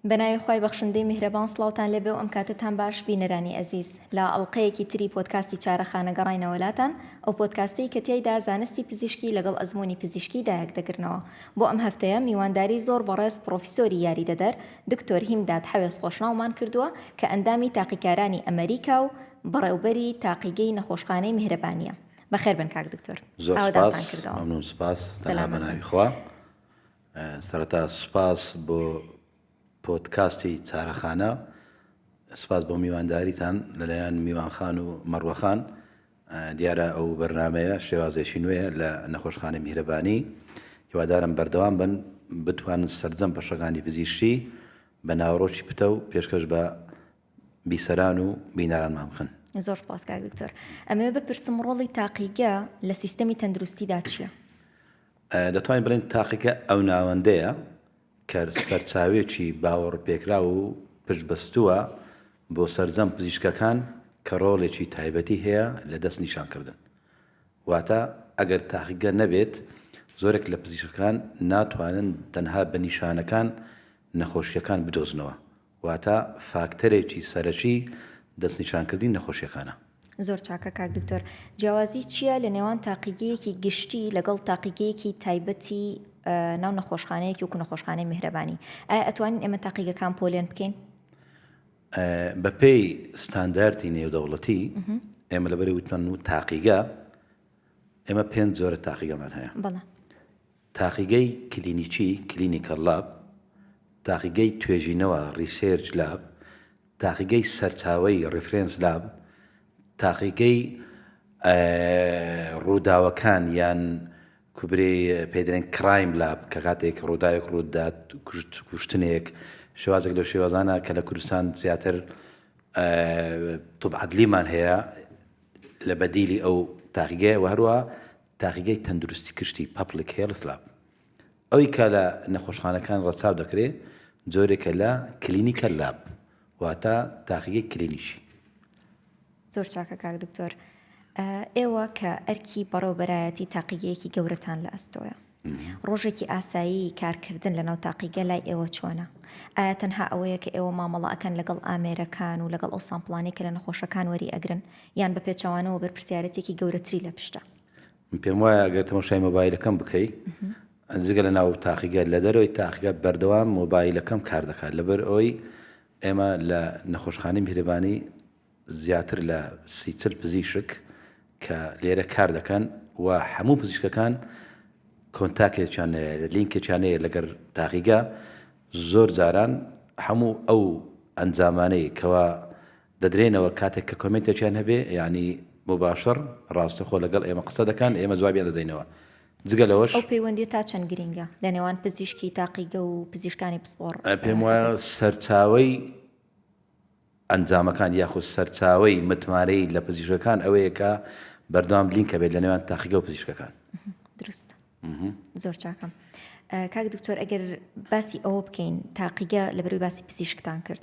بەناوی خی بەخشندەی میهرەبان سلااوان لێبێ و ئەم کاتتان باش بینەرانی ئەزیز لە ئەڵلقەیەکی تری پۆتکاستی چارەخانە گەڕینەوەلاتان ئەو پۆتکاستەی کە تایدا زانستی پزیشکی لەگەڵ ئەزمموی پزیشکی دایک دەگرنەوە بۆ ئەم هەفتەیە میوانداری زۆر بەڕێز پرۆفیسۆری یاری دەدەر دکتۆر هیمداد حەوێز خۆشناومان کردووە کە ئەندامی تاقیکارانی ئەمریکا و بەڕێوبەری تاقیگەی نەخۆشخانەی میهرەبانیە. بەخێر بن کاک دکتۆر ئاوەدانتان کردەوە. زۆر سوپاس مەمنون سوپاس تەنها بەناوی خوا. سەرەتا سوپاس بۆ پۆدکاستی چارەخانە. سوپاس بۆ میوانداریتان لەلایەن میوان خان و مەڕوە خان. دیارە ئەو بەرنامەیە شێوازێکی نوێیە لە نەخۆشخانەی میهرەبانی. هیوادارم بەردەوام بن بتوانن سەرجەم بەشەکانی پزیشکی بە ناوەڕۆکی پتەو پێشکەش بە بیسەران و بینەرانمان بکەن. زۆر سپاس کاک دکتۆر. ئەمەوێ بپرسم ڕۆڵی تاقیگە لە سیستەمی تەندروستیدا چیە؟ دەتوانین بڵێین تاقیگە ئەو ناوەندەیە کە سەرچاوێکی باوەڕپێکراو و پشتبەستووە بۆ سەرجەم پزیشکەکان کە ڕۆڵێکی تایبەتی هەیە لە دەست نیشان کردن. واتە ئەگەر تاقیگە نەبێت زۆرێک لە پزیشکەکان ناتوانن تەنها بە نیشانەکان نەخۆشییەکان بدۆزنەوە واتە فاکتەرێکی سەرەکی دەستنیشانکردنی نەخۆشیەکانە. زۆر چاکە کاک دکتۆر. جیاوازی چیە لە نێوان تاقیگەیەکی گشتی لەگەڵ تاقیگەیەکی تایبەتی ناو نەخۆشخانەیەکی وەکو نەخۆشخانەی میهرەبانی؟ ئایا ئەتوانین ئێمە تاقیگەکان پۆلێن بکەین؟ بە پێی ستانداردی نێودەوڵەتی ئێمە لەبەری وتمان و تاقیگە ئێمە پێنج جۆرە تاقیگەمان هەیە. بەڵێ. تاقیگەی کلینیکی، Clinical Lab، تاقیگەی توێژینەوە، Research Lab، تاقیگەی سەرچاوەیی، Reference Lab، تاقیگەی ڕووداوەکان یان کوبرەی پێی دەرێن Crime Lab کە کاتێک ڕووداوێک ڕوو دەدات کوشت کوشتنێک شێوازێک لەو شێوازانە کە لە کوردستان زیاتر طب عدلیمان هەیە لە بەدیلی ئەو تاقیگەیە و هەروەها تاقیگەی تەندروستی گشتی، Public Health Lab، ئەوی کە لە نەخۆشخانەکان ڕەچاو دەکرێ، جۆرێکە لە Clinical Lab، واتە تاقیگەی کلینیکی. زۆر چاکە کاک دکتۆر. ئێوە کە ئەرکی بەڕێوەبەرایەتی تاقیگەیەکی گەورەتان لە ئەستۆیە، ڕۆژێکی ئاسایی کارکردن لەناو تاقیگە لای ئێوە چۆنە؟ ئایا تەنها ئەوەیە کە ئێوە مامەڵە ئەکەن لەگەڵ ئامێرەکان و لەگەڵ ئەو سامپڵانەی کە لە نەخۆشەکان وەری ئەگرن یان بە پێچەوانەوە بەرپرسیارێتێکی گەورەتری لە پشتە؟ من پێم وایە ئەگەر تەماشای مۆبایلەکەم بکەی جگە لە ناو تاقیگە لە دەرەوەی تاقیگە بەردەوام مۆبایلەکەم کار دەکات لەبەر ئەوی ئێمە لە نەخۆشخانەی میهرەبانی زیاتر لە سیچل پزیشک کە لێرە کار دەکەن و هەموو پزیشکەکان کۆنتاکێکیان لینکێکیان هەیە لەگەر تاقیگە زۆر جاران هەموو ئەو ئەنجامانەی کەوا دەدرێنەوە کاتێک کە کۆمێنتێکیان هەبێ یانی موباشەر ڕاستەخۆ لەگەڵ ئێمە قسە دەکان ئێمە جوابیان دەدەینەوە جگە لەوەش. ئەو پەیوەندیە تا چەند گرینگە لە نێوان پزیشکی تاقیگە و پزیشکانی پسپۆڕ؟ پێم وایە سەرچاوەی ئەنجامەکان یاخود سەرچاوەی متمانەی لە پزیشکەکان ئەوەیە کە بەردەوام لینک هەبێت لە نێوان تاقیگە و پزیشکەکان. دروستە. زۆر چاکە کاک دکتۆر ئەگەر باسی ئەوە بکەین تاقیگە لە بەروی باسی پزیشکتان کرد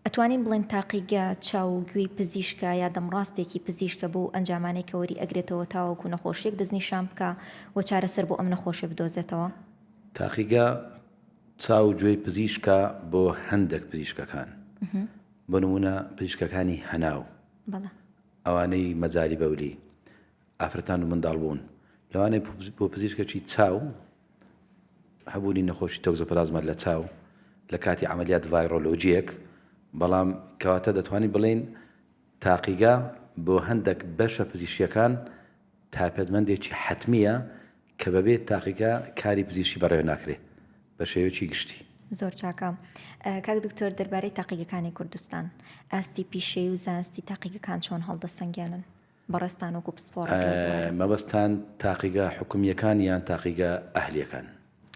ئەتوانین بڵێن تاقیگە چاو و گوێی پزیشکە یا دەمڕاستێکی پزیشکە بۆ ئەنجامانەی کەوەری ئەگرێتەوە تاوەکو نەخۆشیێک دەستنیشان بکە و چارەسەر بۆ ئەم نەخۆشە بدۆزێتەوە تاقیگە چاو گوێی پزیشکە بۆ هەندێک پزیشکەکان بۆ نمونە پزیشکەکانی هەناو ئەوانەی مەجاری بەولی ئافرەتان و منداڵبوون، لەوانەیە بۆ پزیشکێکی چاو هەبوونی نەخۆشی تۆکزۆپلازما لە چاو لە کاتی عەمەلیات ڤایرۆلۆجییەک، بەڵام کەواتە دەتوانین بڵێین تاقیگە بۆ هەندێک بەشە پزیشکییەکان تایپەتمەندێکی حەتمییە کە بەبێ تاقیگە کاری پزیشکی بەڕێوە ناکرێت بە شێوەیەکی گشتی. زۆر چاکە. کاک دکتۆر دەربارەی تاقیگەکانی کوردستان، ئاستی پیشەی و زانستی تاقیگەکان چۆن هەڵدەسەنگێنن؟ بەڕێزتان وەکو پسپۆڕێک لەو بوارە. مەبەستتان تاقیگە حکومییەکان یان تاقیگە ئەهلییەکان؟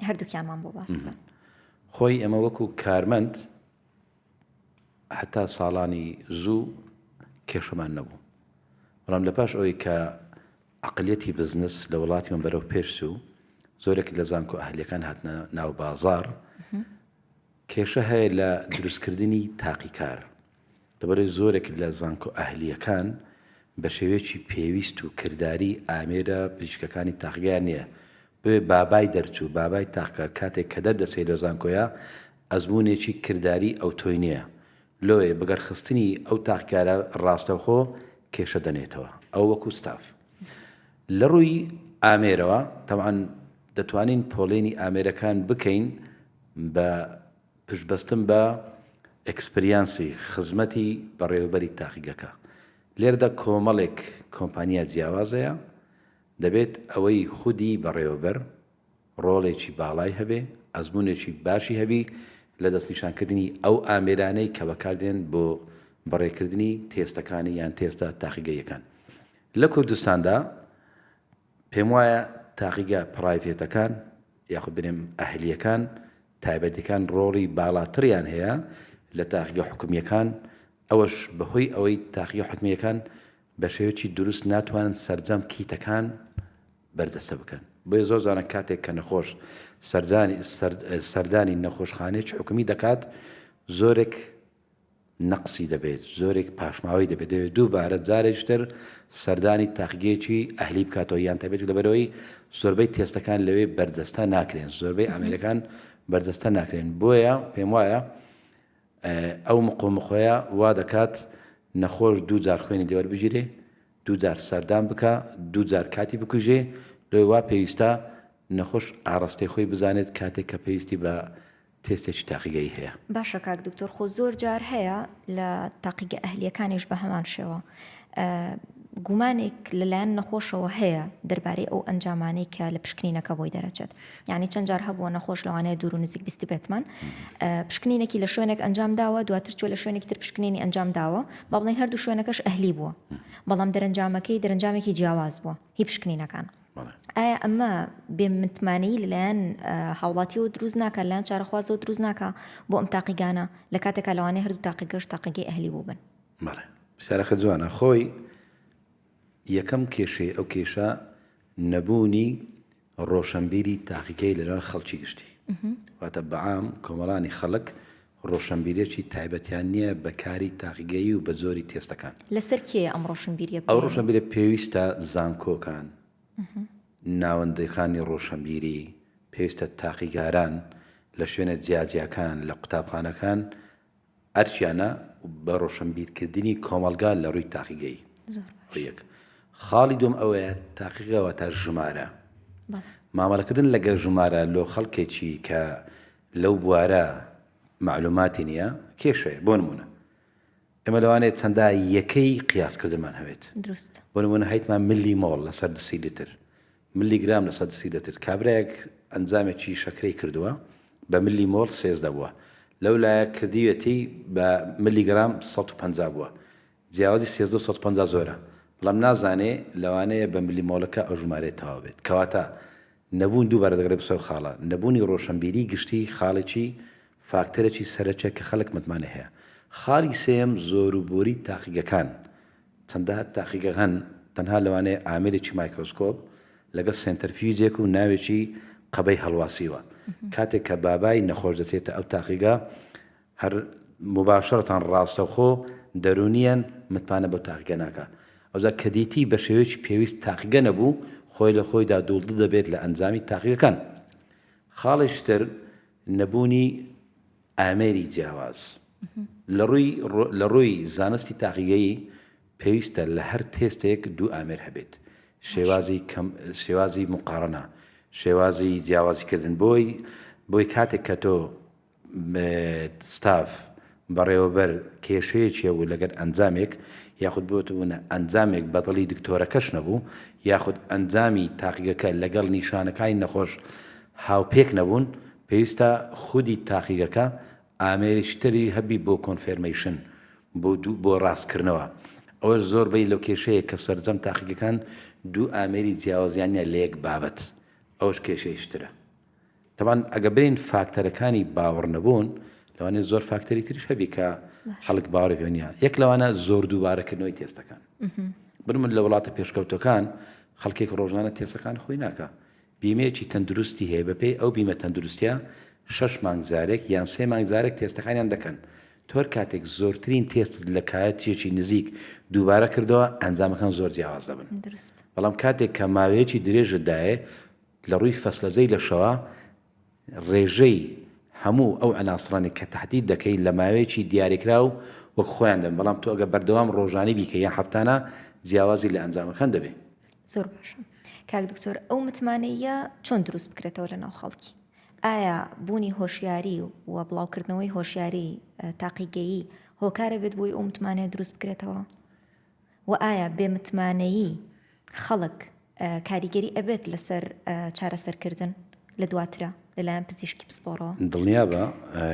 هەردووکیانمان بۆ باس بکەن. خۆی ئێمە وەکو کارمەند هەتا ساڵانی زوو کێشەمان نەبوو، بەڵام لە پاش ئەوەی کە عەقڵیەتی بزنس لە وڵاتیمان بەرەو پێش چوو، زۆرێک لە زانکۆ ئەهلییەکان هاتنە ناو بازاڕ، کێشە هەیە لە دروستکردنی تاقیکار. لەبەرئەوەی زۆرێک لە زانکۆ ئەهلییەکان بە شێوەیەکی پێویست و کرداریی ئامێرە پزیشکەکانی تاقگەیان نییە، بۆیە بابای دەرچوو، بابای تاقکار کاتێک کە دەردەچێت لە زانکۆیە ئەزموونێکی کرداریی ئەوتۆی نییە، لۆیە بەگەڕخستنی ئەو تاقیکارە ڕاستەوخۆ کێشە دەنێتەوە. ئەوە وەکو ستاف. لە ڕووی ئامێرەوە تەبعەن دەتوانین پۆڵێنی ئامێرەکان بکەین بە. پشتبەستن بە ئێکسپریانسی خزمەتی بەڕێوەبەری تاقیگەکە، لێرەدا کۆمەڵێک کۆمپانیا جیاواز هەیە، دەبێت ئەوەی خودی بەڕێوەبەر ڕۆڵێکی باڵای هەبێ، ئەزموونێکی باشی هەبی لە دەستنیشانکردنی ئەو ئامێرانەی کە بەکاردێن بۆ بەڕێکردنی تێستەکانی یان تێستە تاقیگەییەکان لە کوردستاندا. پێم وایە تاقیگە پڕایڤێتەکان یاخود بێنێم ئەهلییەکان تایبەتیەکان ڕۆڵی باڵاتریان هەیە لە تاقیگە حکومییەکان ئەوەش بەهۆی ئەوەی تاقیگە حکومییەکان بە شێوەیەکی دروست ناتوانن سەرجەم کیتەکان بەرجەستە بکەن بۆیە زۆر جاران کاتێک کە نەخۆش سەردانی سەردانی نەخۆشخانەیەکی حکومی دەکات زۆرێک نەقسی دەبێت، زۆرێک پاشماوەی دەبێت، دەبێت دووبارە جارێکی تر سەردانی تاقیگەیەکی ئەهلی بکاتەوە یان تایبەتیک لەبەرئەوەی زۆربەی تێستەکان لەوێ بەرجەستە ناکرێن، زۆربەی ئامێرەکان بەرجەستە ناکرێن، بۆیە پێموایە ئەو مقۆمقۆیە وا دەکات نەخۆش دوو جار خوێنی لێ وەربگیرێ، دوو جار سەردان بکا، دوو جار کاتی بکوژێ، لۆ وا پێویستە نەخۆش ئاڕاستەی خۆی بزانێت کاتێک کە پێویستی بە تێستێکی تاقیگەیی هەیە. باشە کاک دکتۆر خۆ زۆر جار هەیە لە تاقیگە ئەهلیەکانیش بە هەمان شێوە گومانێک لەلایەن نەخۆشەوە هەیە دەربارەی ئەو ئەنجامانەی کە لە پشکنینەکە بۆی دەرەچێت یعنی چەند جار هەبووە نەخۆش لەوانەیە دوور و نزیک بیست بێتمان پشکنینێکی لە شوێنێک ئەنجام داوە دواتر چۆ لە شوێنێکی تر پشکنینی ئەنجام داوە بەڵێن هەردوو شوێنەکەش ئەهلی بووە بەڵام دەرەنجامەکەی دەرەنجامێکی جیاواز بووە هی پشکنینەکان. ئایا ئەمە بێ متمانەیی لەلایەن هاوڵاتیەوە دروست ناکە لایەن چارەخوازەوە دروست ناکە بۆ ئەم تاقیگانە لە کاتێکا لەوانەیە هەردوو تاقیگەش تاقیگەی ئەهلی بووبن بەڵێ سارەکە جوانە خۆی یەکەم کێشەی ئەو کێشە نەبوونی ڕۆشەنبیری تاقیکەری لەنێوان خەڵکی گشتی، واتە بەعام کۆمەڵانی خەڵک ڕۆشەنبیرێکی تایبەتیان نییە بە کاری تاقیگەیی و بە جۆری تێستەکان. لەسەر کێیە ئەم ڕۆشنبیرییە بگەیەنێت؟ ئەو ڕۆشەنبیرییە پێویستە زانکۆکان، ناوەندەکانی ڕۆشەنبیری، پێویستە تاقیگاران لە شوێنە جیاجیاکان لە قوتابخانەکان، ئەرکیانە بە ڕۆشەنبیرکردنی کۆمەڵگا لە ڕووی تاقیگەی. زۆر باش. ئەوە یەک. خاڵی دووەم ئەوەیە تاقیگە واتە ژمارە. بەڵێ. مامەڵەکردن لەگەڵ ژمارە لۆ خەڵکێکی کە لەو بوارە مەعلووماتی نییە، کێشەیە. بۆ نموونە ئێمە لەوانەیە چەندە یەکەی قیاسکردنمان هەبێت. دروست. بۆ نموونە هەیتمان ملی مۆڵ لەسەر دسیلیتر. ملی گرام لە سەد سیلتر. کابرایەک ئەنجامێکی شەکرەی کردووە بە ملی مۆڵ سێزدە بووە، لەو لایە کردیویەتی بە ملی گرام سەد و پەنجا بووە. جیاوازی سێزدە و سەد و پەنجا زۆرە، بەڵام نازانێ لەوانەیە بە ملی مۆڵەکە ئەو ژمارەیە تەواو بێت. کەواتە نەبوون دووبارە دەگەڕێ بۆ سەر خاڵە. نەبوونی ڕۆشەنبیریی گشتی خاڵێکی، فاکتەرێکی، سەرەکیە کە خەڵک متمانەی هەیە. خاڵی سێیەم زۆروبۆری تاقیگەکان چەندە تاقیگە هەن تەنها لەوانەیە ئامێرێکی مایکرۆسکۆپ لەگەڵ سێنتەرفیوجێک و ناوێکی قەبەی هەڵواسیوە کاتێک کە بابای نەخۆش دەچێتە ئەو تاقیگە هەر مباشرەتان ڕاستەوخۆ دەرونیەن متمانە بە تاقیگە ناکا ئەوجا کە دیتی بە شێوەیەکی پێویست تاقیگە نەبوو خۆی لە خۆیدا دوڵدڵ دەبێت لە ئەنجامی تاقیگەکان خاڵێکی تر نەبوونی ئامێری جیاواز لە ڕووی زانستی تاقیگەیی پێویستە لە هەر تێستێک دوو ئامێر هەبێت، شێوازی موقاڕەنە، شێوازی جیاوازیکردن، بۆی کاتێک کە تۆ ستاڤ، بەڕێوەبەر کێشەیەکی هەبوو لەگەل ئەنجامێک یاخود بوتبونە ئەنجامێک بەدڵی دکتۆرەکەش نەبوو یاخود ئەنجامی تاقیگەکە لەگەڵ نیشانەکانی نەخۆش هاوپێک نەبوون پێویستە خودی تاقیگەکە ئامێرێکی تری هەبی بۆ کۆنفێرمەیشن بۆ دوو بۆ ڕاستکردنەوە ئەوەش زۆر بەی لەوکێشەیە کە سەرجەم تاقیگەکان دوو ئامێری جیاوازیان نیە لەیەک بابەت ئەوەش کێشەیشترە. تەبعەن ئەگە برێین فاکتەرەکانی باوەڕ نەبوون لەوانێ زۆر فاکتەری تریش هەبی کە خەڵک باوەڕی پێ نییە یەک لەوانە زۆر دووبارەکردنەوەی تێستەکان بن من لە وڵاتە پێشکەوتەکان خەڵکێک ڕۆژانە تێسەکان خۆی ناکە بیمەیەکی تەندروستی هەیە بەپێی ئەو بیمە تەندروستە شەش مانگزارێک یان سێ مانگزارێک تێستەکانیان دەکەن تۆر کاتێک زۆرترین تێست لە کایەتیەکی نزیک دووبارە کردەوە ئەنجامەکان زۆر جیاواز دەبن بەڵام کاتێک کە ماوەیەکی درێژدایە لە ڕووی فەسلەزەی لەشەوە ڕێژەی هەموو ئەو عناسرانەی کە تەحدید دەکەی لە ماوەیەکی دیاریکراو وەک خۆیان دەبن بەڵام تۆ ئەگەر بەردەوام ڕۆژانەی بیکەی یان هەفتانە جیاوازی لە ئەنجامەکان دەبێ. زۆر باشە کاک دکتۆر ئەو متمانەییە چۆن دروست بکرێتەوە لە ناو خەڵکی؟ ئایا بوونی هۆشیاری و بڵاوکردنەوەی هۆشیاری تاقیگەیی هۆکارە بێت بۆی ئەو متمانەیە دروست بکرێتەوە؟ و ئایا بێ متمانەیی خەڵک کاریگەری ئەبێت لەسەر چارەسەرکردن لە دواترا لەلایەن پزیشکی پسپۆڕەوە؟ دڵنیابە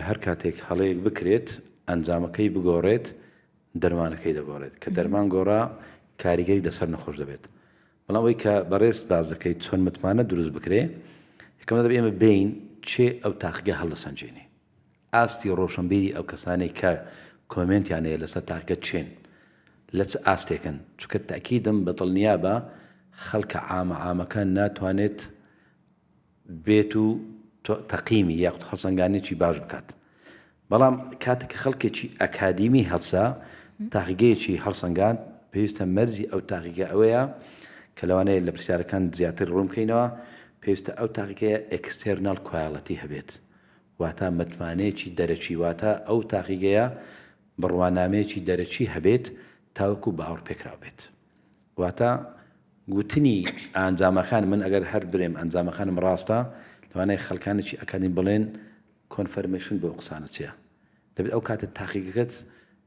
هەر کاتێک هەڵەیەک بکرێت ئەنجامەکەی بگۆڕێت دەرمانەکەی دەگۆڕێت کە دەرمان گۆڕا کاریگەری لەسەر نەخۆش دەبێت بەڵام ئەوەی کە بەڕێزت باس دەکەیت چۆن متمانە دروست بکرێت یەکەم دەبێت ئێمە بێین کێ ئەو تاقیگە هەڵدەسەنجێنێ ئاستی ڕۆشنبیری ئەو کەسانەی کە کۆمێنتیان هەیە لەسەر تاکە چێن لە چ ئاستێکن چونکە تەئکیدم بە دڵنیابە خەڵکە عامە عامەکە ناتوانێت بێت و تەقیمی یاخود خەسەنگانێکی باش بکات بەڵام کاتێک کە خەڵکێکی ئەکادیمی هەڵسا تاقیگەیەکی هەڵسەنگاند پێویستە مەرزی ئەو تاقیگە ئەوەیە کە لەوانەیە لە پرسیارەکان زیاتر ڕوونکەینەوە پێویستە ئەو تاقیگەیە ئەکستێرناڵ کوایڵەتی هەبێت واتا متمانەیەکی دەرەکی، واتا ئەو تاقیگەیە بڕوانامەیەکی دەرەکی هەبێت تاوەکو باوەڕپێکراو بێت. واتا گوتنی ئانجامەکان، من ئەگەر هەر برێم ئەنجامەکانم ڕاستە، لەوانەیە خەلکانێکی ئەکادیمی بڵێن کۆنفەرمەیشن بۆ ئەو قسانە چیە؟ دەبێت ئەو کاتە تاقیگەکەت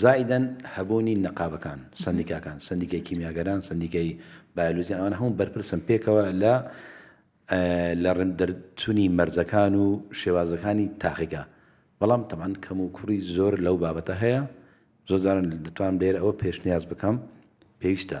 زائیدەن هەبوونی نەقابەکان، سەندیکاکان، سەندیکای کیمیاگەران، سەندیکای بایۆلۆجیان، ئەوانە هەموو بەرپرسن پێکەوە لە لە ڕێند دەرچونی مەرجەکان و شێوازەکانی تاقیگە، بەڵام تەبعەن کەم و کوڕی زۆر لەو بابەتە هەیە، زۆر جاران دەتوانم لێرە ئەوە پێشنیاز بکەم پێویستە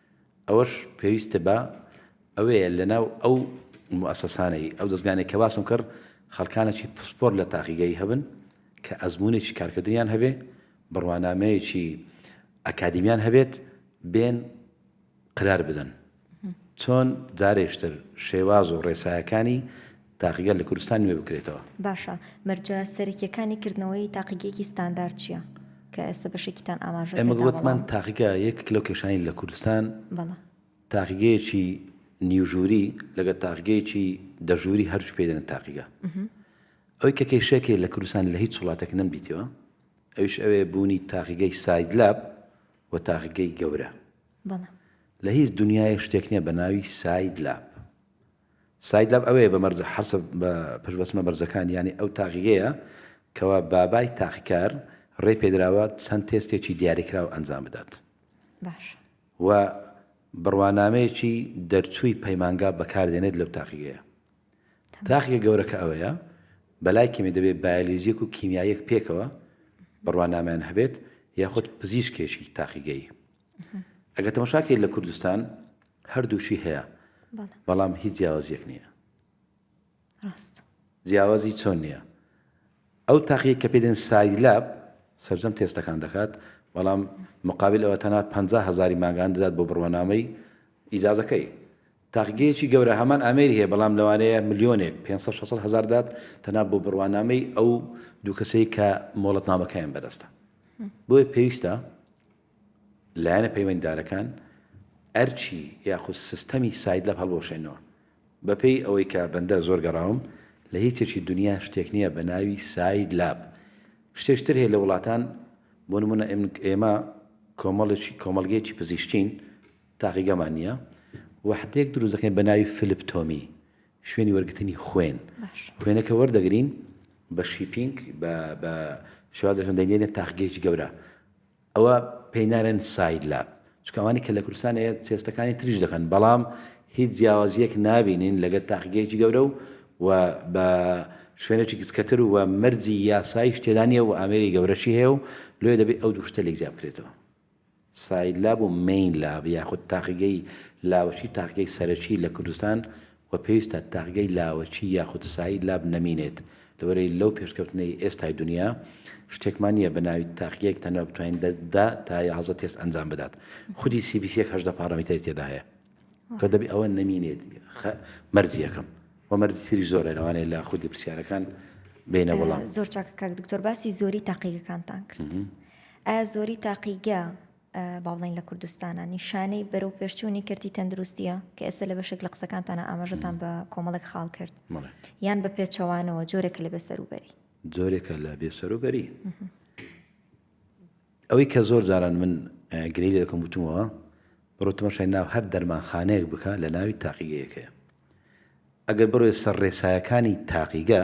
ئەوەش پێویستە بە ئەوەیە لەناو ئەو موئەسەسانەی، ئەو دەزگانەی کە باسم کرد خەڵکانێکی پسپۆر لە تاقیگەیی هەبن کە ئەزموونێکی کارکردنیان هەبێ، بڕوانامەیەکی ئەکادیمیان هەبێت بێن قەرار بدەن چۆن جارێکتر شێواز و ڕێسایەکانی تاقیگە لە کوردستان نوێ بکرێتەوە. باشە مەرجە سەرەکیەکانی کردنەوەی تاقیگەیەکی ستاندارد چیە؟ کە ئێستا بەشێکیتان ئاماژە پێدا بەڵام. ئێمە وتمان تاقیگە یەکێک لەو کێشانەی لە کوردستان تاقیگەیەکی نیو ژووری لەگەڵ تاقیگەیەکی دە ژووری هەردووکی پێ دەنێن تاقیگە. ئەوەی کە کێشەیەکەی لە کوردستان لە هیچ وڵاتێک نەمدیتووە ئەویش ئەوەیە بوونی تاقیگەی ساید لاب و تاقیگەی گەورە. لە هیچ دونیایەک شتێک نیە بە ناوی ساید لاب. ساید لەب ئەوێ بە مەرجە حەسب بە پشت بەستمە بەرزەکانی یانی ئەو تاقیگەیە کەوا بابای تاقیکار ڕێی پێدراوە چەند تێستێکی دیاریکراو ئەنجام بدات باشە. و بڕوانامەیەکی دەرچووی پەیمانگا بەکار دێنێت لەو تاقیگەیە تەمام. تاقیگە گەورەکە ئەوەیە بەلای کەمی دەبێ بایەلیزیک و کیمیاییەک پێکەوە بڕوانامەیان هەبێت یاخود پزیشکێکی تاقیگەیی. ئەگەر تەمەشاکەی لە کوردستان هەردووچی هەیە بەڵام هیچ جیاوازیەک نییە ڕاست جیاوازی چۆن نییە ئەو تاقیە کە پێدێن سایلاب سەرجەم تێستەکان دەکات بەڵام مقابل ئەوە تەنا 50 هزاری ماگان دەدات بۆ بڕوانامەی ئیجازەکەی تاقگەیەکی گەورە هەمان ئامێری هەیە بەڵام لەوانەیە ملیۆنێک 500 هزار دات تەنا بۆ بڕوانامەی ئەو دوو کەسەی کە مۆڵەتنامەکەیان بەدەستە بۆیە پێویستە لایەنە پەیوەندیدارەکان ئەرکی یاخود سیستەمی سایدلەب هەڵبوەشێنەوە. بەپێی ئەوەی کە بەندە زۆر گەڕاوم لە هیچێکی دونیا شتێک نیە بە ناوی ساید لاب. شتێکی تر هەیە لە وڵاتان بۆ نمونە ئێمە کۆمەڵێکی کۆمەڵگەیەکی پزیشکین تاقیگەمان نیە وەحدەیەک دروست دەکەین بە ناوی فلپتۆمی شوێنی وەرگرتنی خوێن خوێنەکە وەردەگرین بە شیپینگ بە شوازەکەن دەینێنە تاقگەیەکی گەورە ئەوە پێی نالێن ساید لاب چونکە ئەوانی کە لە کوردستان ئێ تێستەکانی تریش دەکەن بەڵام هیچ جیاوازیەک نابینین لەگەر تاقیگەیەکی گەورە و و بە شوێنێکی گچکەتر و مەرجی یاسایش تێدا نیە و ئامێری گەورەشی هەیە و لێ دەبێت ئەو دوشتە لێک جیا بکرێتەوە ساید لاب و مین لاب یاخود تاقیگەی لاوەشی تاقیگەی سەرەکی لە کوردستان و پێویستە تاقگەی لاوەکی یاخود سایی لاب نەمینێت لەوەرەی لەو پێشکەوتنەی ئێستای دونیا شتێکمان نیە بەناوی تاقگەیەک تەنها بتوانین دە دە تا یازدە تێست ئەنجام بدات خودی سی بی سیەک هەژدە پاڕامیتەری تێدا هەیە کە دەبی ئەوە نەمینێت خ مەرج یەکەم و مەرجی تری زۆرە لەوانەیە لە خودی پرسیارەکان بینە وەڵام زۆر چاکە کاک دکتۆر باسی زۆری تاقیگەکانتان کرد ئایا زۆری تاقیگە با بڵێین لە کوردستانا، نیشانەی بەرەو پێشچوونی کەرتی تەندروستییە، کە ئێستا لە بەشێک لە قسەکانتانا ئاماژەتان بە کۆمەڵێک خاڵ کرد. بەڵێ. یان بە پێچەوانەوە، جۆرێکە لە بێسەروبەری؟ جۆرێکە لە بێسەروبەری. ئەوەی کە زۆر جاران من گلەیی لێ دەکەم وتومەوە، بڕۆ تەماشای ناو هەر دەرمانخانەیەک بکە لە ناوی تاقیگەیەک هەیە. ئەگەر بڕۆی سەر ڕێسایەکانی تاقیگە،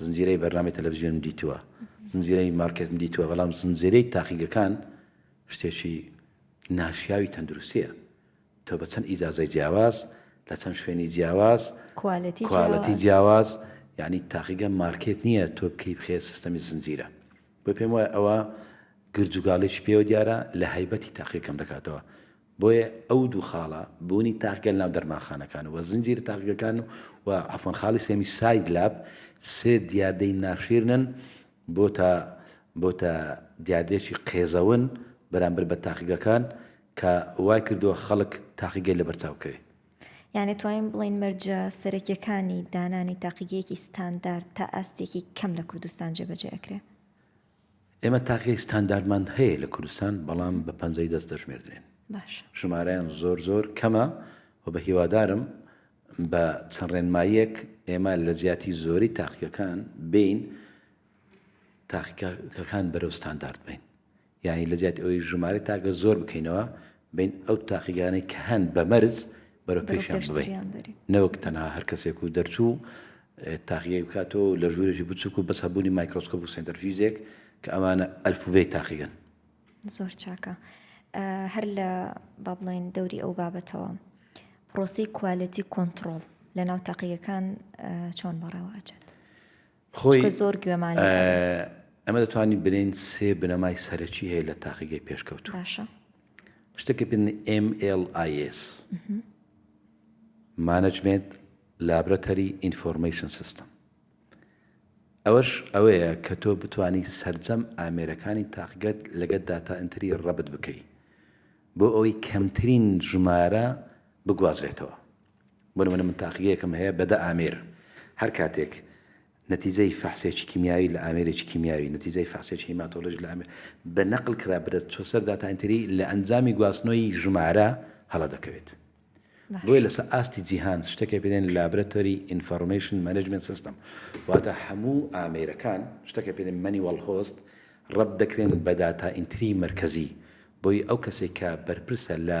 زنجیرەی بەرنامەی تەلەفزیۆنم دیتووە، زنجیرەی مارکێتم دیتووە، بەڵام زنجیرەی تاقیگەکان شتێکی ناشیاوی تەندروستییە. تۆ بە چەند ئیجازەی جیاواز، لە چەند شوێنی جیاواز، کوالێتی جیاواز، یانی تاقیگە مارکێت نییە تۆ بکەی بخەیە سیستەمی زنجیرە. بۆیە پێم وایە ئەوە گرجوگاڵێکی پێوە دیارە، لە هەیبەتی تاقیگەکەم دەکاتەوە. بۆیە ئەو دوو خاڵە، بوونی تاقگە لەناو دەرمانخانەکان و زنجیرە تاقگەکان و عەفوەن خاڵی سێیەمی ساید لاب، سێ دیاردەی ناشیرنن، بۆتە بۆتە دیاردەیەکی قێزەون بەرامبەر بە تاقگەکان کە وای کردووە خەڵک تاقیگەی لەبەرچاو بکەوێت. یانی توانین بڵێین مەرجە سەرەکیەکانی دانانی تاقیگەیەکی ستاندارد تا ئاستێکی کەم لە کوردستان جێبەجێ ئەکرێ؟ ئێمە تاکێک ستانداردمان هەیە لە کوردستان، بەڵام بە پەنجەی دەست دەژمێردرێن. باشە. ژمارەیان زۆر زۆر کەمە و بە هیوادارم بە چەند ڕێنماییەک ئێمە لە جیاتی زۆری تاقیگەکان بێین تاقیگەکان بەرەو ستاندارد بین. یانی لە جیاتی ئەوەی ژمارەی تاکە زۆر بکەینەوە، بین ئەو تاقیگانەی کە هەن بە مەرج بەرەو پێشیان ببەین نەوەک تەنها هەر کەسێک و دەرچوو تاقیگەی بکاتەوە لە ژوورێکی بچووک و بەس هەبوونی مایکرۆسکۆپ و سنتەرفیزێک کە ئەمانە ئەلفوبێی تاقیگەن زۆر چاکە هەر لە با بڵێن دەوری ئەو بابەتەوە پرۆسی کوالەتی کۆنتترۆل لە ناو تاقیەکان چۆن بەڕێوە ئەچێت خۆی چونکە زۆر گوێمان لێ ئەبێت. ئێمە دەتوانین بلێین سێ بنەمای سەرەکی هەیە لە تاقیگەی پێشکەوتوو. باشە. شتێکی پێ دەنێین MLS. Management Laboratory Information System. ئەوەش ئەوەیە کە تۆ بتوانی سەرجەم ئامێرەکانی تاقیگەت لەگەت داتا ئەنتری ڕەبت بکەی بۆ ئەوەی کەمترین ژمارە بگوازرێتەوە. بۆ نموونە من تاقیگەیەکم هەیە بە دە ئامێر، هەر کاتێک نەتیجەی فەحسێکی کیمیاوی لە ئامێرێکی کیمیاوی، نەتیجەی فەحسێکی هیماتۆلۆژی لە ئامێر بە نەقل کرا بدە چوە سەر داتا ئێنتری لە ئەنجامی گواستنەوەی ژمارە هەڵە دەکەوێت. بۆیە لە سەر ئاستی جیهان شتەکێ پێ دێن لابرەتۆری ئینفۆرمەیشن مەنێجمێنت سیستەم واتە هەموو ئامێرەکان شتەکە پێ دێن مەنیوەڵ هۆست ڕەبت دەکرێن بە داتا ئینتری مەرکەزی بۆی ئەو کەسێک کە بەرپرسە لە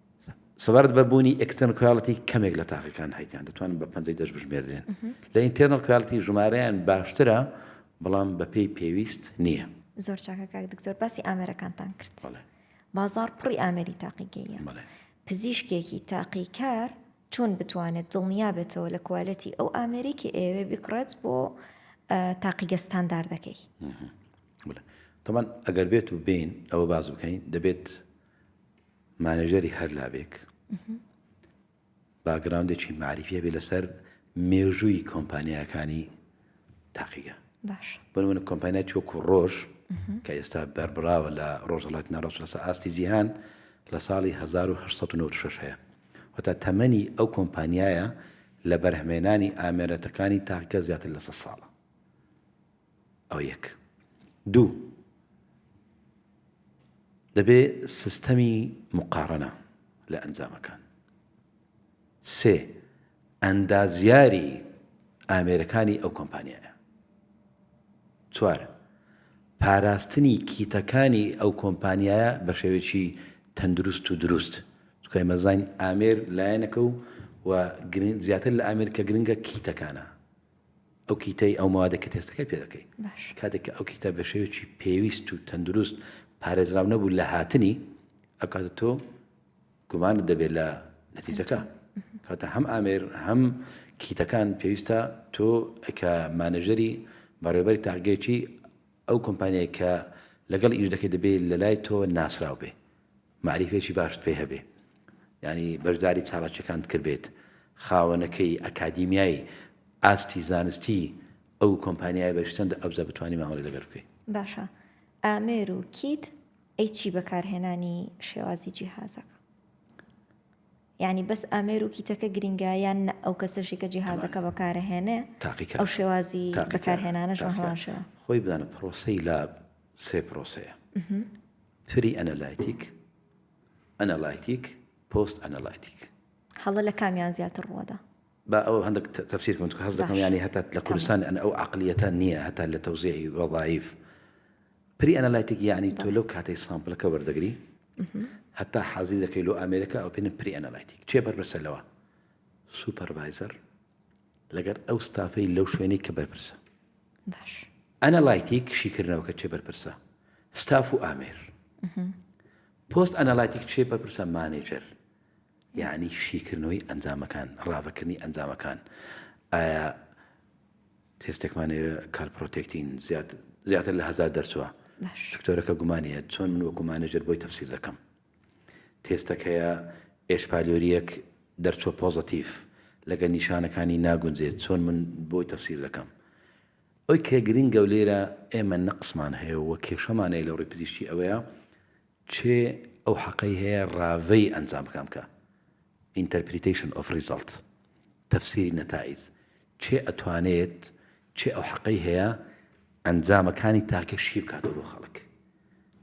سەبارەت بە بوونی ئێکستێرنڵ کوالێتی کەمێک لە تاقیەکان هەیتیان دەتوانن بە پەنجەی دەست بژمێردرێن لە ئینتێرنڵ کوالێتی ژمارەیان باشترە بەڵام بەپێی پێویست نییە زۆر چاکە کاک دکتۆر باسی ئامێرەکانتان کرد بازار پڕی ئامێری تاقیگەیە پزیشکێکی تاقیکار چۆن بتوانێت دڵنیا بێتەوە لە کوالەتی ئەو ئامێرێکی ئێوێ بکڕێت بۆ تاقیگەستان داردەکەی تەمان ئەگەر بێت و بین ئەوە باز بکەین دەبێت مانێژەری هەر لاوێک باگراوندێکی معریفە بێ لەسەر مێژووی کۆمپانیاکانی تاقیگە بۆ من کۆمپانیا توەکو ڕۆژ کە ئێستا بەربراوە لە ڕۆژەڵات ناڕۆژ لەسە ئاستی جیهان لە ساڵی 1996 هەیە وتا تەمەنی ئەو کۆمپانیایە لە بەرهمێنانی ئامێرەتەکانی تاقیکە زیاتر لەسە ساڵە ئەوە یەک. دوو، دەبێ سیستەمی موقارەنە لە ئەنجامەکان. سێ، ئەندازیاری ئامێرەکانی ئەو کۆمپانیایە. چوار، پاراستنی کیتەکانی ئەو کۆمپانیایە بە شێوەیەکی تەندروست و دروست. چونکە ئێمە زانین ئامێر لایەنەکە و زیاتر لە ئامێر کە گرنگە کیتەکانە. ئەو کیتەی ئەو مەوادە کە تێستەکەی پێ دەکەی کاتێک کە ئەو کیتە بە شێوەیەکی پێویست و تەندروست پارێزراو نەبوو لە هاتنی ئەو کاتە تۆ گومانت دەبێت لە نەتیجەکە کاتە هەم ئامێر هەم کیتەکان پێویستە تۆ کە مانەژەری بەڕێبەری تاقگەیکی ئەو کۆمپانیای کە لەگەڵ ئیش دەکەی دەبێت لە لای تۆ ناسراو بێ مەعریفێکی باشت پێ هەبێ یانی بەشداری چالاکیەکانت کردبێت خاوەنەکەی ئەکادیمیای ئاستی زانستی ئەو کۆمپانیای بەشتەندە ئەوجا بتانی مامەڵی لەگەر بکەی باشە ئامێر و کیت ئەی چی بەکارهێنانی شێوازی جیهازەکە ینی بەس ئامێر و کیتەکە گرنگایان ئەو کەسەشی کە جیهازەکە بەکارهێنێ تاقیکە ئەو شێوازی بەکارهێنانەشەوە خۆی بدانە پرۆسی لە سێ پرۆسەیە، پری ئەنەلایتیک، ئەنەلایتیک، پۆست ئەنەلایتیک. هەڵە لە کامیان زیاتر ڕووەدا؟ با ئەوە هەندێک تەفسیر بکەم، چونکە هەست دەکەم یانی هەتا لە کوردستان ئەن ئەو عەقڵیەتە نییە هەتا لە تەوزیعی وەزایف. پری ئەنەلایتیک یانی تۆ لەو کاتەی سامپڵەکە وەردەگری هەتا حازری دەکەی لۆ ئامێرەکە ئەو پێنە پری ئەنەلایتیک. کێ بەرپرسە لەوە؟ سوپەرڤایزەر. لەگەر ئەو ستافەی لەو شوێنەی کە بەرپرسە باش ئەنە لایتیک شیکردنەوە کە چێ بەرپرسە ستاف و ئامێر پۆست ئەنە لایتیک چێ بەرپرسە مانێجەر یعنی شیکردنەوەی ئەنجامەکان ڕاڤەکردنی ئەنجامەکان ئایا تێستێکمانەوە کار پرۆتێکتین زیاتر لە هزار دەرچوە دکتۆرەکە گومانە چۆن من وەکو مانێجر بۆی تەفسیر دەکەم تێستەکەیە ئێشپالیۆریەک دەرچوە پۆزەتیڤ لەگەل نیشانەکانی ناگونجێت چۆن من بۆی تەفسیر دەکەم ئەوی کە گرنگە و لێرە ئێمە نەقسمان هەیە و کێشەمان هەیە لەوڕی پزیشکی ئەوەیە چێ ئەو حەقەی هەیە ڕاڤەی ئەنجام بکام کە Interpretation of Result تەفسیری نەتائیج کێ ئەتوانێت کێ ئەو حەقەی هەیە ئەنجامەکانی تاکە شی بکاتەوە بۆ خەڵک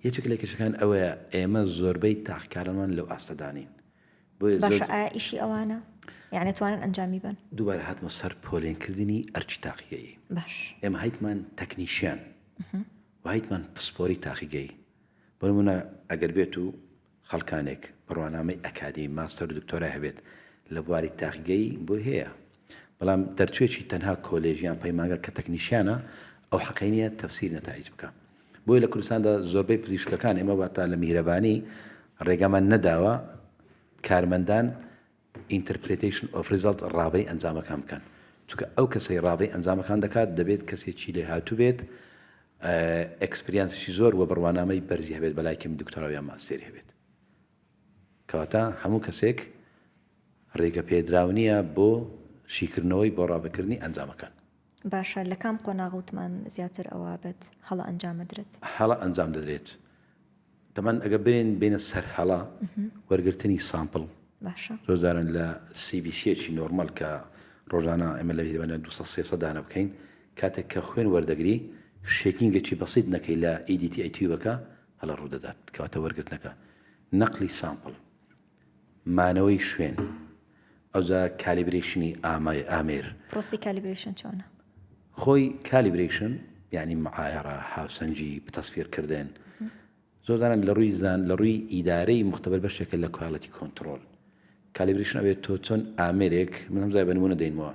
یەکێک لە کێشەکان ئەوەیە ئێمە زۆربەی تاقکارەمان لەو ئاستەدا نین بۆیە زۆر- باشە ئایا ئیشی ئەوانە یان ئەتوانن ئەنجامی بەن؟ دووبارە هاتمەوە سەر پۆلێنکردنی ئەرکی تاقیگەیی باش ئێمە هەیتمان تەکنیشیان و هەیتمان پسپۆری تاقیگەیی بۆ نموونە ئەگەر بێت و خەڵکانێک بڕوانامەی ئەکادیمی، ماستەر و دکتۆرای هەبێت لە بواری تاقیگەیی بۆی هەیە، بەڵام دەرچوێکی تەنها کۆلێژ یان پەیمانگا کە تەکنیشیانە ئەو حەقەی نیە تەفسیر نەتایج بکا. بۆیە لە کوردستاندا زۆربەی پزیشکەکان ئێمە واتا لە میهرەبانی ڕێگامان نەداوە کارمەندان Interpretation of Result ڕاڤەی ئەنجامەکان بکەن چونکە ئەو کەسەی ڕاڤەی ئەنجامەکان دەکات دەبێت کەسێکی لێهاتوو بێت ئێکسپریانسیشی زۆر وە بڕوانامەی بەرزی هەبێت بەلای کەمی دکتۆرا یان ماستێری هەبێت کەواتە هەموو کەسێک ڕێگە پێدراو نییە بۆ شیکردنەوەی بۆ ڕاڤەکردنی ئەنجامەکان باشە لە کام قۆناغ وتمان زیاتر ئەوابێت هەڵە ئەنجام بدرێت هەڵە ئەنجام دەدرێت دەمان ئەگەر برێن بێنە سەر هەڵە وەرگرتنی سامپڵ باشە زۆر جاران لە سی بی سیەکی نۆرمەل کە ڕۆژانە ئێمە لە بیرمەنە دوو سەد سێ سەد دانە بکەین کاتێک کە خوێن وەردەگری شێکینگێکی بەسیت نەکەی لە ئی دی تی ئەی تیوبەکە هەڵە ڕوو دەدات کەواتە وەرگرتنەکە نەقلی سامپڵ مانەوەی شوێن ئەوجا کالیبرەیشنی ئامای ئامێر. پرۆسەی کالیبرەیشن چۆنە؟ خۆی کالیبرەیشن یانی معایەڕە هاوسەنگی بتەسفیر کردن زۆر جاران لە ڕووی زان لە ڕووی ئیدارەی مختبەر بەشێکە لە کوالێتی کۆنتڕۆل کالیبرەیشن ئەوێت تۆ چۆن ئامێرێک من هەمزای بە نمونە دەینمەوە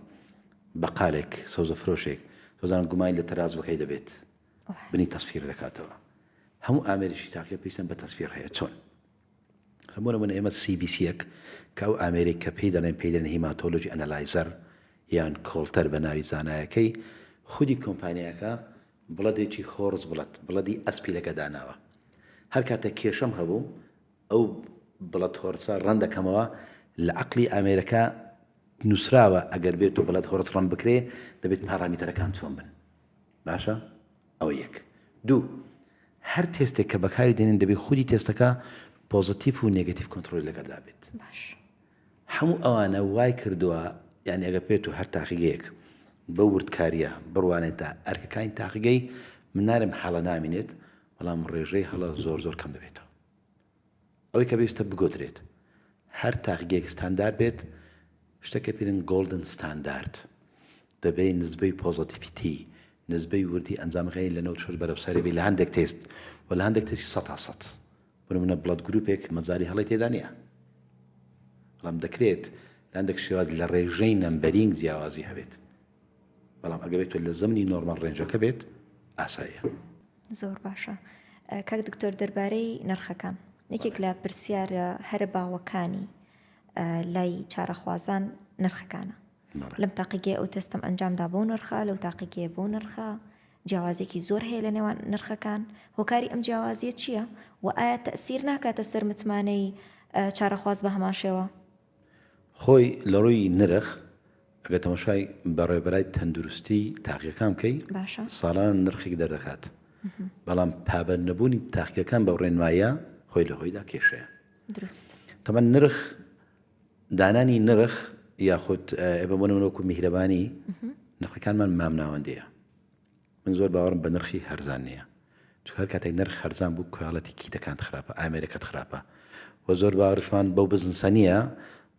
بەقالێک سەوزە فرۆشێک زۆر جاران گومانی لە تەرازوەکەی دەبێت بنی تەسفیر دەکاتەوە هەموو ئامێریشی تاکە پێویستیان بە تەسفیر هەیە چۆن بۆ نموونە ئێمە سی بی سییەک کە ئەو ئامێرەی کە پێی دەڵێن پێی دەڵێن هیماتۆلۆجی ئەنالایزەر یان کۆڵتەر بە ناوی زانایەکەی خودی کۆمپانیاکە بڵەدێکی هۆرس بڵەد بڵەدی ئەسپی لەکە داناوە هەر کاتێک کێشەم هەبوو ئەو بڵەد هۆرسە ڕەن دەکەمەوە لە عەقلی ئامێرەکە نووسراوە ئەگەر بێت و بڵەد هۆرس ڕەن بکرێ دەبێت پارامیتەرەکان چۆن بن باشە ئەوە یەک. دوو، هەر تێستێک کە بەکاری دێنن دەبێ خودی تێستەکە پۆزەتیف و نێگەتیف کۆنتڕۆڵی لەگەلدا بێت. باش. هەموو ئەوانە وای کردووە، یانی ئەگەر پێت و هەر تاقیگەیەک بەو وردکارییە بڕوانێتە ئەرکەکانی تاقیگەی، من نارێم هەڵە نامینێت، بەڵام ڕێژەی هەڵە زۆر زۆر کەم دەبێتەوە. ئەوەی کە پێویستە بگۆترێت هەر تاقگەیەک ستاندارد بێت، شتێک کە پێدەن گۆڵدن ستاندارد، دەبێ نسبەی پۆزەتیفیتی، نسبەی وردی ئەنجامەکانی لە نەوەد و شەش بەرەو سەرێ بێت لە هەندێک تێست و لە هەندێک تێستی سەد تا سەد. بۆ نموونە بڵەد گرووپێک مەجالی هەڵەی تێدا نییە. بەڵام دەکرێت لە هەندێک شێواز لە ڕێژەی نەمبەرینگ جیاوازی هەبێت. بەڵام ئەگەر بێت لە زەمنی نۆرماڵ ڕێنجەکە بێت ئاساییە. زۆر باشە کاک دکتۆر دەربارەی نرخەکان یەکێک لە پرسیارە هەرە باوەکانی لای چارەخوازان نرخەکانە لەم تاقیگەی ئەو تەستم ئەنجامدا بۆ نرخە لەو تاقیگەیە بۆ نرخە جیاوازێکی زۆر هەیە لە نێوان نرخەکان هۆکاری ئەم جیاوازیە چییە و ئایا تەسیر ناکاتە سەر متمانەی چارەخواز بە هەمان شێوە خۆی لە ڕووی نرخ ئەگەر تەماشای بەڕێوبەرای تەندروستی تاقیەکان بکەی ساڵانە نرخێک دەردەکات بەڵام پابەند نەبوونی تاقیەکان بە ڕێنمایە خۆی لە هۆیدا کێشەیە دروست تەمە نرخ دانانی نرخ یاخود ئێبەمەوەکو میهرەبانی نرخەکانمان مامناوەندەیە من زۆر باوەڕم بە نرخی هەرزان نیە چونکە هەر کاتێک نرخ هەرزان بوو کوالێتی کیتەکانت خراپە ئامێرەکەت خراپە وە زۆر باوەڕشمان بەو بزنسە نیە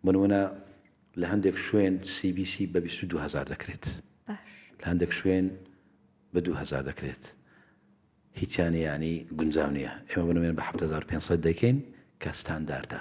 بۆ نمونە لە هەندێک شوێن سی بی سی بە بیست و دوو هەزار دەکرێت لە هەندێک شوێن بە دوو هەزار دەکرێت هیچیان یانی گونجاو نیە ئێمە بنوێن بە حەفت هەزار و پێنج سەد دەکەین کە ستانداردە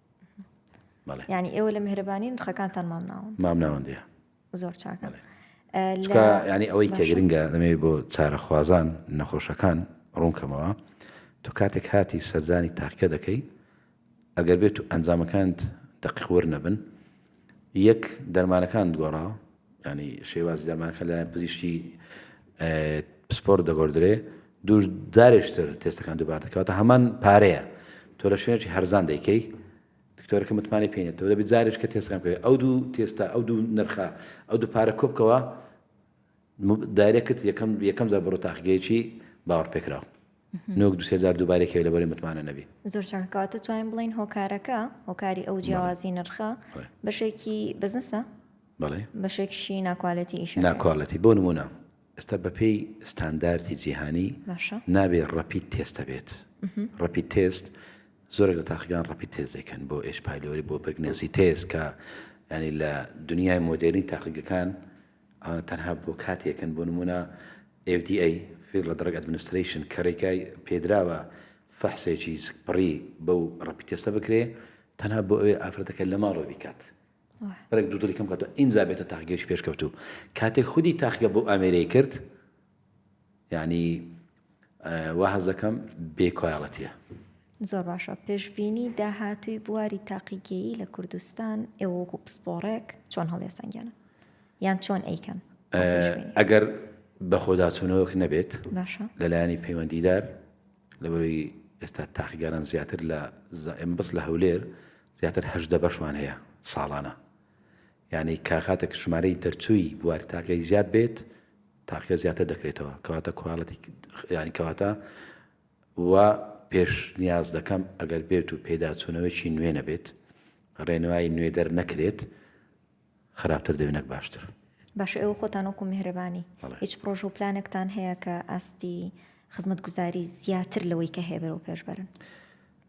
ینی ئێوە لە مهرەبانی نرخەکانتان مامناون مامناوەندە زۆر چاکە ینی ئەوەی کەگرنگە دەمەوێت بۆ چارەخوازان نەخۆشەکان ڕوونکەمەوە تو کاتێک هاتی سەردانی تاکە دەکەی ئەگەر بێت و ئەنجامەکانت دەقیقور نەبن یەک، دەرمانەکانت گۆڕا، یانی شێوازی دەرمانەکان لەلایەن پزیشکی پسپۆڕت دەگۆردرێ، دوو، جارێکتر تێستەکان دووبارە دەکەی، واتە هەمان پارەیە تۆ لە شوێنێکی هەرزان دەیکەی، دکتۆرەکە متمانەی پێ نییە، تۆ دەبێ جارێکتر تێستەکان بکەی، ئەو دوو تێستە، ئەو دوو نرخە، ئەو دوو پارە کۆبکەوە، دایرێکت یەکەم یەکەم جار بڕۆ تاقیگەیەکی باوەڕپێکراو. نۆک دوو سێ جار دووبارەی کەوێ لەبەرەی متمانە نەبی. زۆر چاکە کەواتە توانین بڵێین هۆکارەکە هۆکاری ئەو جیاوازی نرخە بەشێکی بزنسە بەڵێ بەشێکشی ناکوالێتی ئیش ناکوالەتی بۆ نمونە ئێستا بەپێی ستانداردی جیهانی نابێ ڕەپیت تێستە بێت ڕەپیت تێست زۆرێک لە تاقیگان ڕەپیت تێز دەکەن بۆ ئێش پایلۆری بۆ برگنەسی تێز کە ینی لە دنیای مۆدێرنی تاقیگەکان ئەوانە تەنها بۆ کاتێکن، بۆ نموونە FDA، Federal Drug Administration، کە رێگای پێدراوە فەحسێکی سکپڕی بەو ڕەپید تێستە بکرێ، تەنها بۆ ئەوەیە ئافرەتەکە لە ماڵەوە بیکات، بەرەک دوو دڵی کەم بکاتەوە، ئینجا بێتە تاقیگەیەکی پێشکەوتوو. کاتێک خودی تاقیگە بەو ئامێرەی کرد، یانی وا هەست دەکەم بێ کوالێتیە. زۆر باشە، پێشبینی داهاتووی بواری تاقیگەیی لە کوردستان ئێوە وەکو پسپۆڕێک چۆن هەڵیەسەنگێنن؟ یان چۆن ئەیکەن؟ ئەگەر بەخۆداچوونەوەک نەبێت باشە لەلایەنی پەیوەندیدار لەبەروی ئێستا تاقیگەران زیاتر لە زائم بەس لە هەولێر زیاتر هەشدە بەشمان هەیە ساڵانە یانی کە کاتێک ژمارەی دەرچووی بواری تاقیگە زیاد بێت تاقیگە زیاتر دەکرێتەوە کەواتە کوالێتی یانی کەواتە وا پێش نیاز دەکەم ئەگەر بێت و پێداچوونەوەیکی نوێ نەبێت ڕێنوای نوێ دەر نەکرێت خراپتر دەبێت نەک باشتر. باشە ئێوە خۆتان وەکو میهرەبانی هیچ پرۆژە و پلانێکتان هەیە کە ئاستی خزمەتگوزاری زیاتر لەوەی کە هەیە بەرەو پێش بەرن؟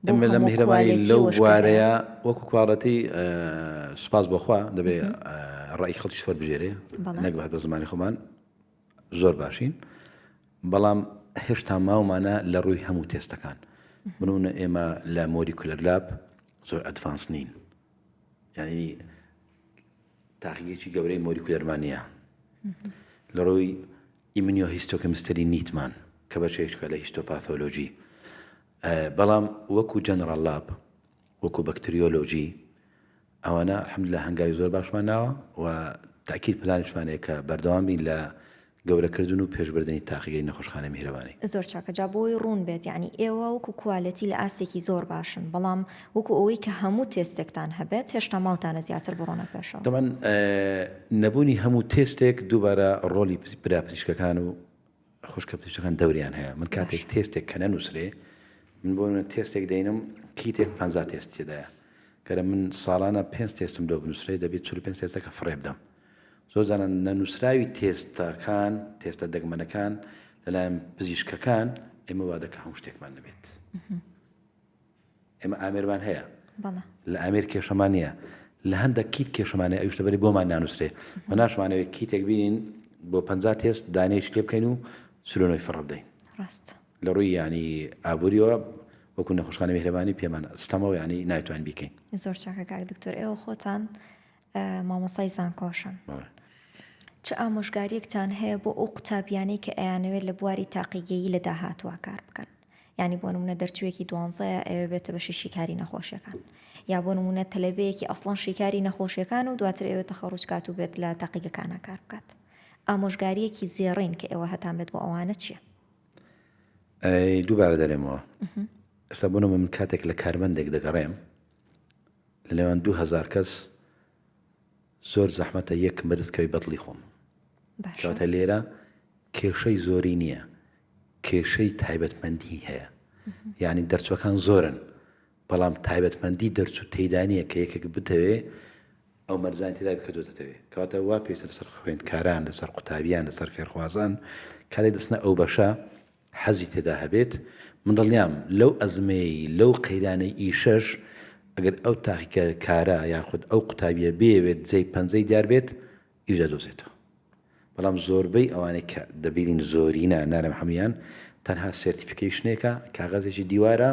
بۆ هەموو کوالێتی و شکایەت. اللە میهرەبانی لەو بوارەیا وەکو کوالێتی سوپاس بۆ خوا دەبێ ڕای خەڵکیش وەربگێرێ نەک هەر بە زمانی خۆمان زۆر باشین بەڵام هێشتا ماومانە لە ڕووی هەموو تێستەکان بنونە ئێمە لە مۆری کولەر لاب زۆر ئەدڤانس نین یعنی تاقیگەکی گەورەی مۆری کولەرمانە لە ڕووی ئیمنیۆ هیستۆکەمستری نیتمان کە بەشێکە لە هیستۆپاتۆلۆژی بەڵام وەکو جەنەڕاڵ لاپ وەکو بەکتریۆلۆجی ئەوانە الحمدللە هەنگاوی زۆر باشمان ناوە و تەئکید پلانیشمان هەیە کە بەردەوام بین لە گەورەکردن و پێشبردنی تاقیگەی نەخۆشخانەی میهرەبانی. زۆر چاکە جا بۆوەی ڕوون بێت یانی ئێوە وەکو کوالێتی لە ئاستێکی زۆر باشن بەڵام وەکو ئەوەی کە هەموو تێستێکتان هەبێت هێشتا ماوتانە زیاتر بڕۆنە پێشەوە. تەبعەن نەبوونی هەموو تێستێک دووبارە ڕۆڵی برا پزیشکەکان و خوشکە بچوکەکان دەوریان هەیە من کاتێک تێستێک کە نەنووسرێ من بۆ نمونە تێستێک دەینم کیتێک پەنجا تێست تێدایە کەرە من ساڵانە پێنج تێستم لۆ بنووسرێ دەبێت چل و پێنج تێستەکە فڕێ بدەم زۆر جارە نەنووسراوی تێستەکان تێستە دەگمەنەکان لەلایەن پزیشکەکان ئێمە وا دەکە هەموو شتێکمان نەبێت. ئێمە ئامێرمان هەیە بەڵێ. لە ئامێر کێشەمان نییە لە هەندەک کیت کێشەمان هەیە ئەویش لەبەری بۆمان نانوسرێ و ناشمانەوێت کیتێک بینین بۆ پەنجا تێست دانەیەکی لێ بکەین و سلۆنۆی فڕە بدەین ڕاست لە ڕووی یانی ئابووریەوە وەکو نەخۆشخانە میهرەبانی پێمان ستەمەوە یانی نایتوانین بیکەین زۆر چاکە کاک دکتۆر ئێوە خۆتان مامۆستای زانکۆشن چ ئامۆژگاریەکتان هەیە بۆ ئەو قوتابیانەی کە ئەیانەوێت لە بواری تاقیگەیی لە داهاتوە کار بکەن ینی بۆ نمونە دەرچوویەکی دوانزەیە ئەوێ بێتە بەشی شیکاری نەخۆشیەکان یا بۆ نمونە تەلەبەیەکی ئەسڵان شیکاری نەخۆشیەکان و دواتر ئەوێت تەخەڕوجکات و بێت لە تاقیگەکانە کار بکات ئامۆژگاریەکی زێڕین کە ئێوە هەتان بێت بۆ ئەوانە چییە؟ دووبارە دەرێمەوە ئستا بوونەوە من کاتێک لە کارمەندێک دەگەڕێم لە نێوان دوو هەزار کەس زۆر زەحمەتە یەک مرد کەوی بەدڵی خۆم باشە. کەواتە لێرە کێشەی زۆری نییە کێشەی تایبەتمەندی هەیە یعنی دەرچوەکان زۆرن بەڵام تایبەتمەندی دەرچوو تێدانە کە یەکێک بتەوێ ئەو مەرزان تێدا بکردوێتەوێ کەواتە وا پێویستە لەسەر خوێندکاران لەسەر قوتابیان لەسەر فێرخوازان کارێک دەستنە ئەو بەشە حەزی تێدا هەبێت، من دڵنیام لەو ئەزمەی لەو قەیرانەی ئیشەش ئەگەر ئەو تاقیکە کارە یاخود ئەو قوتابیە بیەوێت جێی پەنجەی دیار بێت ئیش دەدۆزێتەوە بەڵام زۆربەی ئەوانەی کە دەبینین زۆرینە نارم هەمویان تەنها سێرتیفیکەیشنێکە کاغەزێکی دیوارە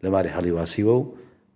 لەماری هەڵیواسیوە و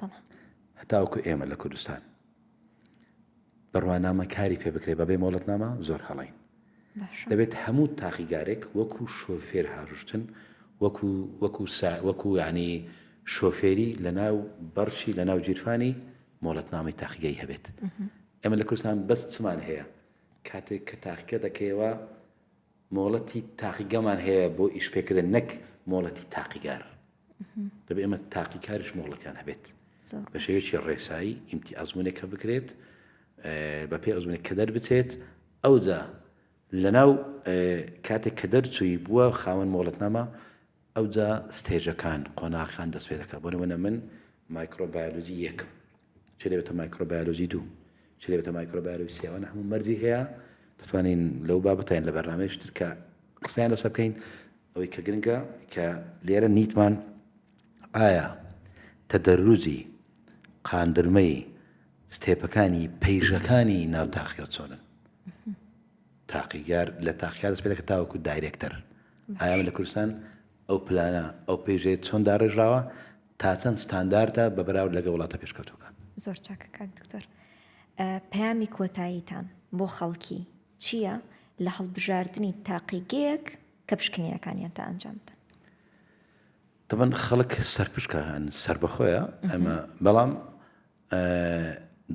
بەڵام. هەتاوەکو ئێمە لە کوردستان بڕوانامە کاری پێ بکرێت بەبێ مۆڵەتنامە زۆر هەڵەین. باشە. دەبێت هەموو تاقیگارێک وەکو شۆفێر هاروشتن وەکو وەکو سا وەکو یانی شۆفێری لەناو بەڕچی لەناو جیرفانی مۆڵەتنامەی تاقیگەی هەبێت. ئێمە لە کوردستان بەس چمان هەیە کاتێک کە تاقیگە دەکەیەوە مۆڵەتی تاقیگەمان هەیە بۆ ئیش پێکردن نەک مۆڵەتی تاقیگار دەبێ ئێمە تاقیکاریش مۆڵەتیان هەبێت بە شێوێکی ڕێسایی ئیمتی ئەزمونێکە بکرێت بە پێ ئەزمونێک کە دەربچێت ئەودا لەناو کاتێک کە دەرچووی بووە خاوەن مۆڵەتنامە ئەوجا ستێجەکان، قۆناغەکان دەست پێدەکات، بۆ نموونە من مایکرۆ بایۆلۆجی یەکم، چ دەبێتە مایکرۆ بایۆلۆجی دوو، چ دەبێتە مایکرۆ بایۆلۆجی سێ، ئەوانە هەموو مەرجی هەیە، دەتوانین لەو بابەتە یان لە بەرنامەیەکی تر کە قسەیان لەسەر بکەین، ئەوەی کە گرنگە کە لێرە نیتمان ئایا تەدەروجی قاندرمەی ستێپەکانی پەیژەکانی ناو تاقیگە چۆنن؟ تاقیگار لە تاقیکار دەست پێ دەکات تاوەکو دایرێکتەر ئایا ئێمە لە کوردستان ئەو پلانە ئەو پێیژەیە چۆن داڕێژراوە تا چەند ستانداردە بە بەراورد لەگەڵ وڵاتە پێشکەوتووەکان زۆر چاکە کاک دکتۆر ئە، پەیامی کۆتاییتان بۆ خەڵکی چییە لە هەڵبژاردنی تاقیگەیەک کە پشکنینەکانیان تا ئەنجام بدەن؟ تەبەن خەڵک سەرپشکە هەن سەربەخۆیە ئەمە بەڵام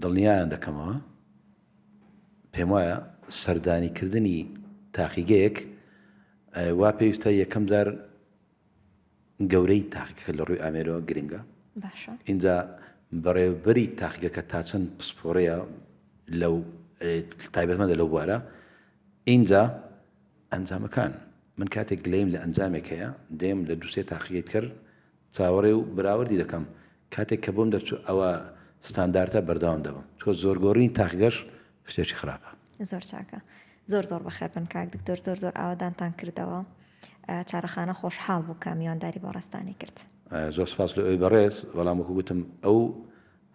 دڵنیایان دەکەمەوە، پێموایە سەردانیکردنی تاقیگەیەک وا پێویستە یەکەم جار گەورەی تاقیگەکە لە ڕووی ئامێرەوە گرنگە باشە ئینجا بەڕێوبەری تاقیگەکە تا چەند پسپۆڕەیە لەو تایبەتمەدە لەو بوارە ئینجا ئەنجامەکان من کاتێک گلەیم لە ئەنجامێک هەیە دێم لە دووسێ تاقیگەیت کرد چاوەڕێ و بەراوردی دەکەم کاتێک کە بۆم دەرچوو ئەوە ستاندارتە بەردەوام دەبم تۆ زۆر گۆڕینی تاقگەش شتێکی خراپە. زۆر چاکە زۆر زۆر بەخێربن کاک دکتۆر زۆر زۆر ئاوەدانتان کردەوە چارەخانە خۆشحاڵ بوو کە میوانداری بۆ ڕێزتانی کرد. زۆر سپاس لۆ ئەوی بەڕێز بەڵام وەکو گوتم ئەو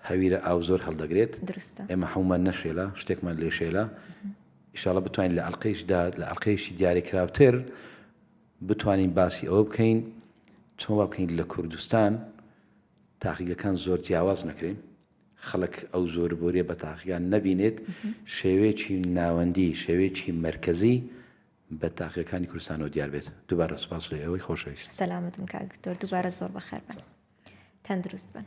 هەویرە ئاو زۆر هەڵدەگرێت دروستە ئێمە حەمومان نەشێلە شتێکمان لێشێلە ئیشاڵە بتوانین لە ئەڵقەیشدا لە ئەڵقەیشی دیارێکراوتر بتوانین باسی ئەوە بکەین چۆن وا بکەین لە کوردستان تاقیگەکان زۆر جیاواز نەکرێن، خەڵک ئەو زۆر بۆریە بە تاقیگان نەبینێت، شێوەیەکی ناوەندی، شێوەیەکی مەرکەزی بە تاقیگەکانی کوردستانەوە دیار بێت. دووبارە سوپاس لە ئێوەی خۆشەویست. سەلامەت بن کاک دکتۆر، دووبارە زۆر بەخێر بن. تەندروست بن.